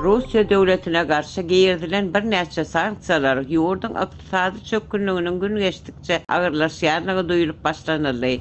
Russiýa döwletine garşy girizilen birnäçe sanksiýalar ýurduň ykdysady çökgünliginiň gün geçdikçe agyrlaşýandygy duýlup başlanyldy.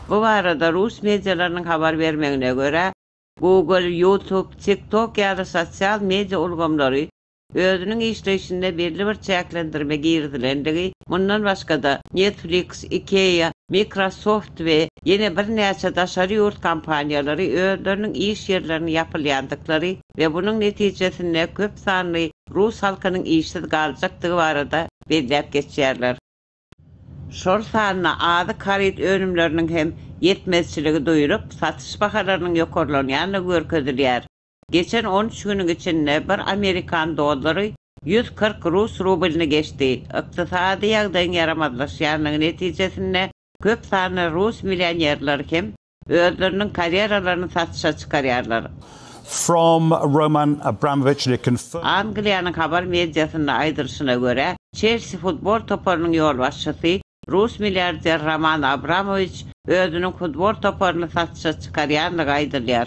Bu barada rus medialarynyň habar bermegine görä, Google, YouTube, TikTok ýaly sosial media ulgamlary özüniň işleýşinde belli bir çäklendirme girizilendigi, mundan başga-da, Netflix, IKEA, Microsoft we ýene birnäçe daşary ýurt kompaniýalary özleriniň iş ýerlerini ýapylýandyklary we bunuň netijesinde köp sanly rus halkynyň işsiz galjakdygy barada belläp geçýärler. şol sanda azyk-haryt önümleriniň hem ýetmezçiligi duýlup, satyş bahalarynyň ýokarlanýandygy görkezilýär. Geçen on üç günüň içinde bir amerikan dollary ýüz kyrk rus rublyny geçdi. Ykdysady ýagdaýyň ýaramazlaşýandygy netijesinde köp sanly rus millionerleri hem Özleriniň karýeralaryny satyşa çykarýarlar. From Roman Abramowiçle confirmed. Angliýanyň habar mediasynda aýdylyşyna görä, Çelsi futbol toparynyň ýolbaşçysy, rus milliarder Roman Abramowiç özüniň futbol toparyny satyşa çykarýandygy aýdylýar.